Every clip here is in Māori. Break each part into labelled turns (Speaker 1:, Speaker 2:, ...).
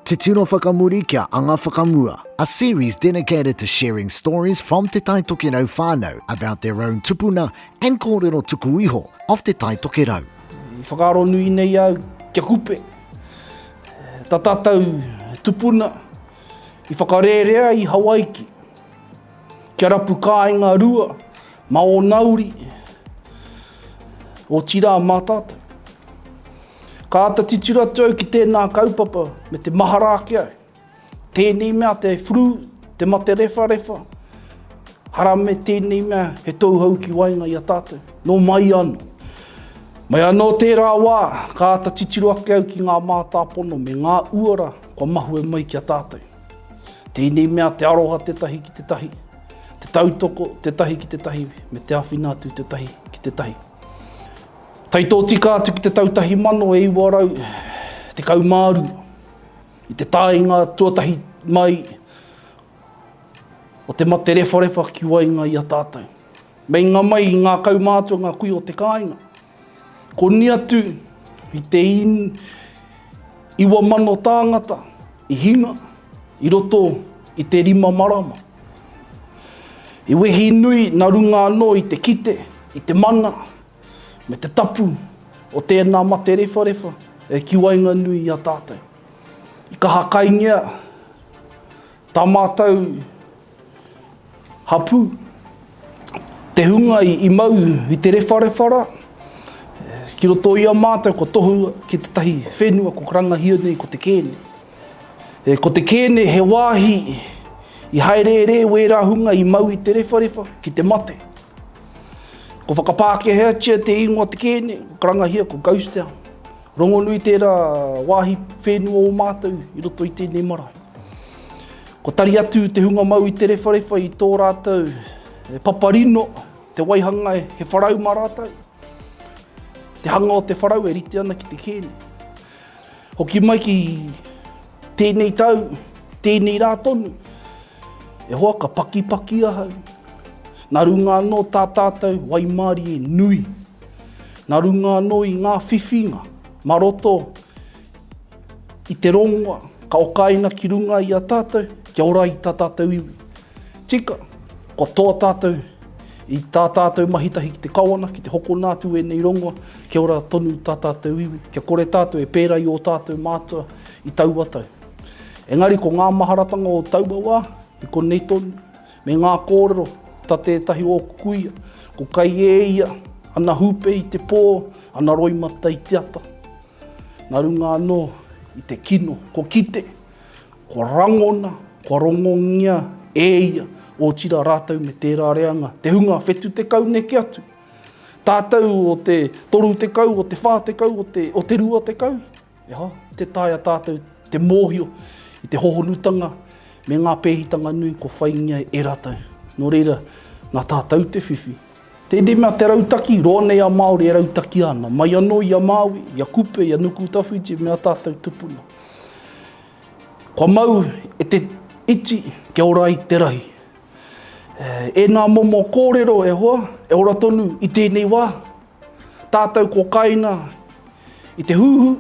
Speaker 1: Te Tino Whakamuri kia Anga Whakamua A series dedicated to sharing stories from Te Tai Tokerau whānau about their own tupuna and kōrero tuku iho of Te Tai Tokerau. I whakaaro nui
Speaker 2: nei au kia kupe ta tatou tupuna i whakarerea i Hawaiki. Kia rapu kāinga rua mā ō nauri, otirā mā tātou. Ka āta titiro atu au ki tēnā kaupapa me te mahara ake au. Tēnei mea te flu, te mate rewharewha, harame tēnei mea he touhau ki waenga i a tātou. Nō mai anō. Mai anō tērā wā, ka āta titiro ake au ki ngā mātāpono me ngā uara kua mahue mai ki a tātou. Tēnei mea te aroha tētahi ki tētahi, te tautoko tētahi ki tētahi, me te awhina atu tētahi ki tētahi. Tai tōtika atu ki te tau tahi mano e iwa rau, te kaumāru, i te tāinga tuatahi mai o te mate rewharewha ki wainga i a tātou. Meinga mai i ngā kaumātua ngā kui o te kāinga, Koni atu i te iwa mano tāngata i hinga i roto i te rima marama. I wehi nui na runga anō i te kite, i te mana, me te tapu o tēnā mate rewharewha e ki waenganui i a tātou. I kaha kaingia tā mātou Hapū, te hunga i mau i te rewharewha rā, ki roto i a mātou kua tohua ki tētahi whenua kua karangahia nei ko te kēne. E, ko te kēne he wāhi i haereere wērā hunga i mau i te rewharewha ki te mate. Ko whakapākeheatia te ingoa te kēne, karangahia ko Ghost Town. Rongonui tērā wāhi whenua o mātou i roto i tēnei marae. Ko tari atu te hunga mau i te rewharewha i tō rātou e paparino te waihangai he wharau mā rātou. Te hanga o te wharau e rite ana ki te kēne. Hoki mai ki tēnei tau, tēnei rā tonu, E hoa ka pakipaki ahau. Na runga ano ta tatou waimarie nui. Na runga ano i nga whiwhinga ma roto i te rongoa ka okaina ki runga i a tatou kia ora i ta tatou iwi. Tika, ko to tatou, i ta tatou mahitahi ki te Kawana ki te hokona atu enei rongoa kia ora tonu ta tatou iwi, kia kore tatou e pera i o tatou matua i taua tau. Engari ko ngā maharatanga o taua wā, i konei tonu, me ngā kōrero, ta tētahi o ōku kuia, ko kai e ia, ana hūpe i te pō, ana roimata i te ata. Na runga anō i te kino, ko kite, kua rangona, kua rongongia e ia, ōtira rātou me tērā reanga, te hunga whetu tekau neke atu, tātou o te toru tekau, o te whā tekau, o te rua tekau. E hoa, i te taea tātou te mōhio i te hohonutanga me ngā pēhitanga nui kua whaingia ai e rātou. Nō reira, nā tātou te whiwhi. Tēnei mea te rautaki, roa nei a Māori e rautaki ana, mai anō i a Māui, i a Kupe, i a Nukutawhiti me ā tātou tupuna. Kua mau e te iti kia ora ai te rahi. E, ēnā momo kōrero, e hoa, e ora tonu i tēnei wā. Tātou ko kainga i te huhu,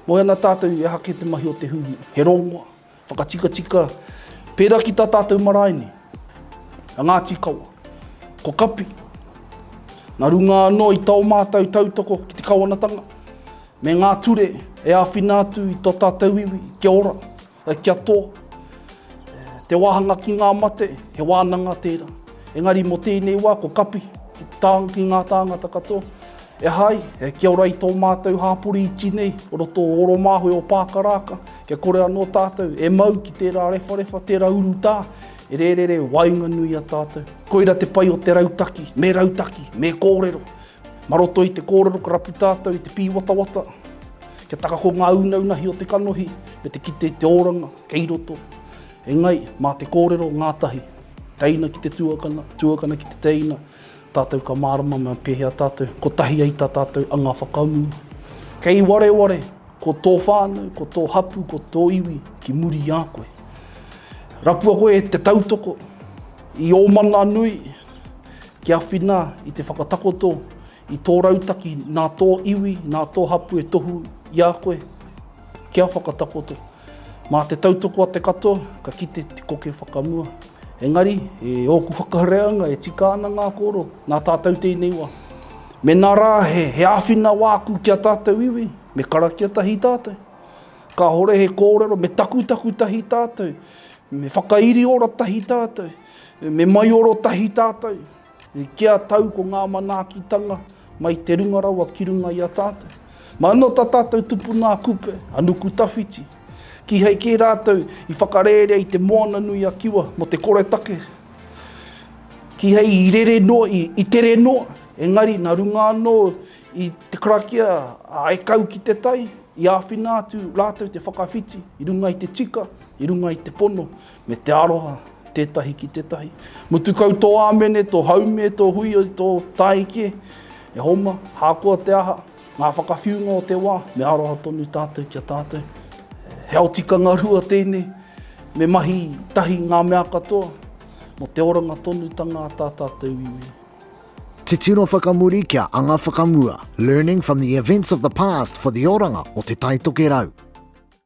Speaker 2: moe ana tātou i aha kē te mahi o te huhu, he rongoa, whakatikatika, pērā ki tā tātou marae nei, a Ngāti Kawa, ko Kapi. Nā runga anō i tō mātou tautoko ki te kawanatanga, me ngā ture e āwhina atu i tō tātou iwi, kia ora, Kia tō Te wāhanga ki ngā mate, he wānanga tērā. Engari mō tēnei wā, ko Kapi, ki tāng, ki ngā tāngata katoa, E hai, kia ora i tō mātou hāpori iti nei, o roto o Oromāhue o Pākarāka, kia kore anō tātou e mau ki tērā rewharewha, tērā urutā, e rērere waenganui i a tātou. Koira te pai o te rautaki, me rautaki, me kōrero, Mā roto i te kōrero ka rapu tātou i te pīwatawata, kia taka ko ngā ūnaunahi o te kanohi me te kite i te oranga kei roto, engari mā te kōrero ngātahi, teina ki te tuakana, tuakana ki te teina, tātou ka mārama mā pēhea tātou kotahi ai tā tātou anga whakaū. Kei wareware ko tō whānau, ko tō hapū, ko tō iwi ki muri i a koe. Rapua koe te tautoko i ō mana nui, Kia whina i te whakatakoto i tō rautaki nā tō iwi, nā tō hapū e tohu i a koe, kia whakatakoto. Mā te tautoko a te katoa, ka kite te koke whakamua. Engari, e ōku whakareanga e tika ana ngā kōrero, nā tātou tēnei wā. Mēnā rā he, he āwhina wāku ki a tātou iwi, me karakia tahi tātou. Kāore he kōrero, me takutaku tahi tātou, me whakairi ora tahi tātou. Me maioro tahi tātou, kia tau ko ngā manaakitanga mai te runga rawa ki runga i a tātou. Ma ano ta tātou tupuna a Kupe, a Nukutawhiti, kihai kē rātou i whakarērea i te moana nui a Kiwa mo te koretake, kihai i rere noa, i, i tere noa, engari na runga ano i te karakia a e kau ki te tai, i āwhina atu rātou te whakawhiti i runga i te tika, i runga i te pono, Me te aroha, tētahi ki tētahi. Mutu kau tō āmene, tō haume, tō hui, tō tāiki, e homa, hākoa te aha, ngā whakawhiunga o te wā, me aroha tonu tātou ki a tātou. He ao tikanga rua tēnei, me mahi tahi ngā mea katoa, mo te oranga tonu tanga a tā tātou iwi. Titiro
Speaker 1: whakamuri kia anga whakamua, learning from the events of the past for the oranga o te Taitokerau.